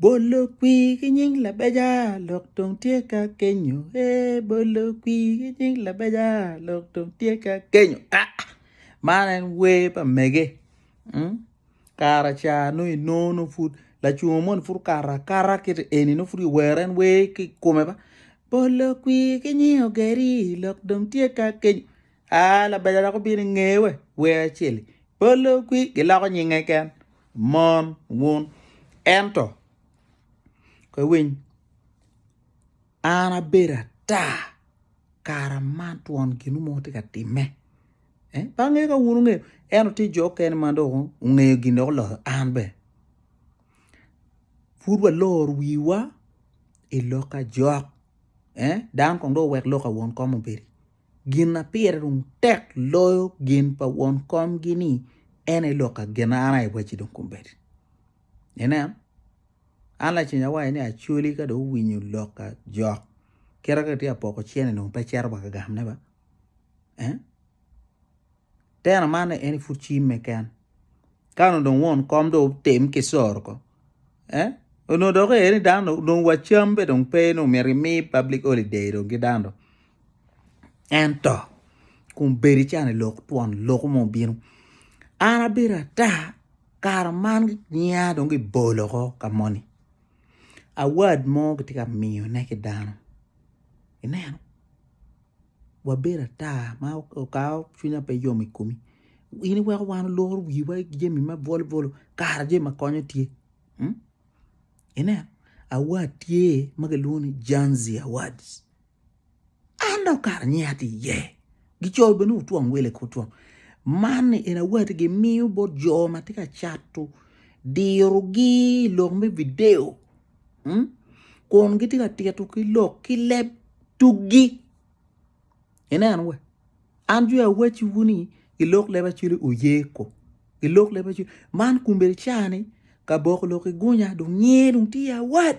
Bolo kwir ki nying labeja lok dong tye ka kenyo ee bolo kwir ki nying labeja lok dong tye ka kenyo aa man en wer pa mege kara ca nongo inongo nongo pud lacungo moni pud okato akata kit eni nongo pud kiwero en wer ki i kome ba bolo kwir ki nying ogeri lok dong tye ka kenyo aa labeja dok obino inge we wer acel-li bolo kwir giloko nyinge keken Mon wun ento koy winy an abedo ata kara man twon ginu mo tye ka timme. Eh, pa ngeyo ka wun ungeyo, ento tye jo kene ma dok ungeyo gin dok oloyo an be. Pud waloro wiwa i lok ajok. Eh, dan kong dok wek lok awon kom obedi. Gin ma pire dong tek loyo gin pa won komgi ni en aye lok ka gin an aye wacci dong kombeddi. Inen, an lacen awaco ni acoli ka dong owinyo lok ka jok kite ka tye apoko cene dong pe cito wa ka gamone ba. Eh? Teno man en pud cimme ken. Ka nongo dong won kom dong otem ki soro ko. Eh? Onongo dok ee ni dano dong wacam be dong pe ni omyero imi public holiday dong ki dano. ento kun bedo ican i lok twon loku mo obino an abedo ata kare man ngiya dong gibolo oko ka moni award mo kitye ka miyone ki dano ineno wabedo ata ma okawa cwinya pe yom i komi in iweko wan oloro wiwa ki jami ma bwolo bwolo kara jami ma konyo tye ineno award tye ma kilwongo ni Janzi awards. An dong kara nyi atye iye. Gicoyo bene otwom wele ki otwom. Man en aye wati gimiyo bot jo ma tye ka cato dirogi i lok me video kun gitye ka tito ki lok ki leb tuggi. Ineno wa, an joni awacciwu ni i lok leb Acwele oye ko, i lok leb Acwele man kombeddi ca ni ka boko lok i gunya dong nyer dong tye awac.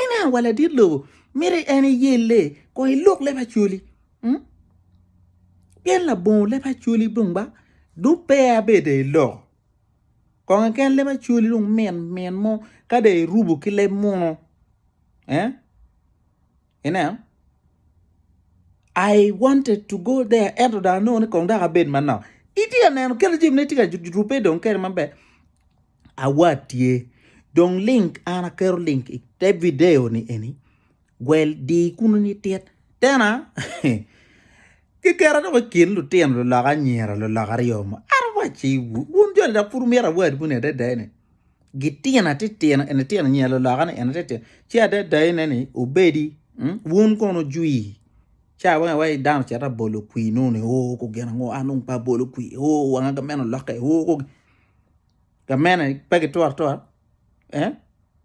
Ena wa ladit lobo, miti en iyelle kong iluk leb Acholi. Hmm? Pien labongo leb Acholi dong ba dong pe abedo i loko. Kong keken leb Acholi dong min min mo ka dong irubo ki leb muno. Eh? Ineno? I wanted to go there ento dong anongo ni kong dok abed manok. Itye ka neno kelo jami ne tye ka rubbe dong kede maber. Awat tye. Dong link an aketo link i te video ni eni. Gwel di kunu ni tit. Tena kikera dong i kin lutino lulok anyira lulok aryo mo. Otherwise, wun joni dok pud wumito awat kuni adada ni. Gitina titino eni tino nyi aloloka ni eni titino ci adadai ne ni obedi wun kono jwi ca weng awai dano cito abolo kwi nongo ni oo ko gin ango an dong pe abolo kwi oo wanga gameno olokke oo ko gamene pe gitwero atwera eh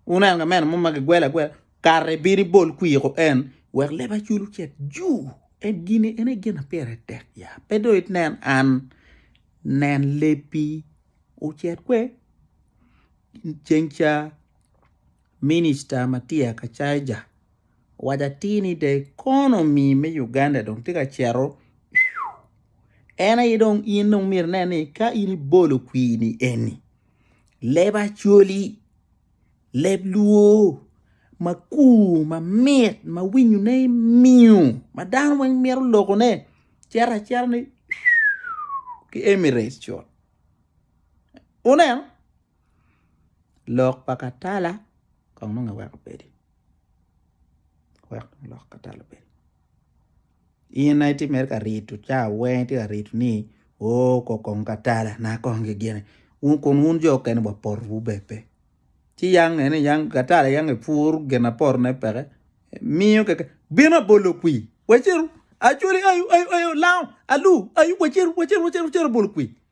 wuneno gamene mo ma gigwelo agwela kara ibino ibol kwi ko en wek leba cul ocit juu en gini en aye gin ma pire tek ya pe dong inen an nen lebbi. ocit kwe ceng ca minista Matia Kacaija owaco atir ni the economy me Uganda dong tye ka cito en aye dong in dong myero inen ni ka in ibolo kwini eni leb Acholi, leb luo makur mamit ma winyone miyo ma dano weng mito lokone cito acita ni ki Emirates cut. Wuneno? Lok pa katala kong nongo eweko obedi, eweko lok pa katala obedi. In aye itye mere ka rito cawa weng itye ka rito ni oo kong kong katala na kong gigine kun wun jo mukene wa potowu bene pe. Ci yam nge ni yam katala yam epur gin aye potone peke miyo keken bino abolo kwir waceru acholi ayu ayu ayu lango alu ayu waceru waceru waceru abolo kwir.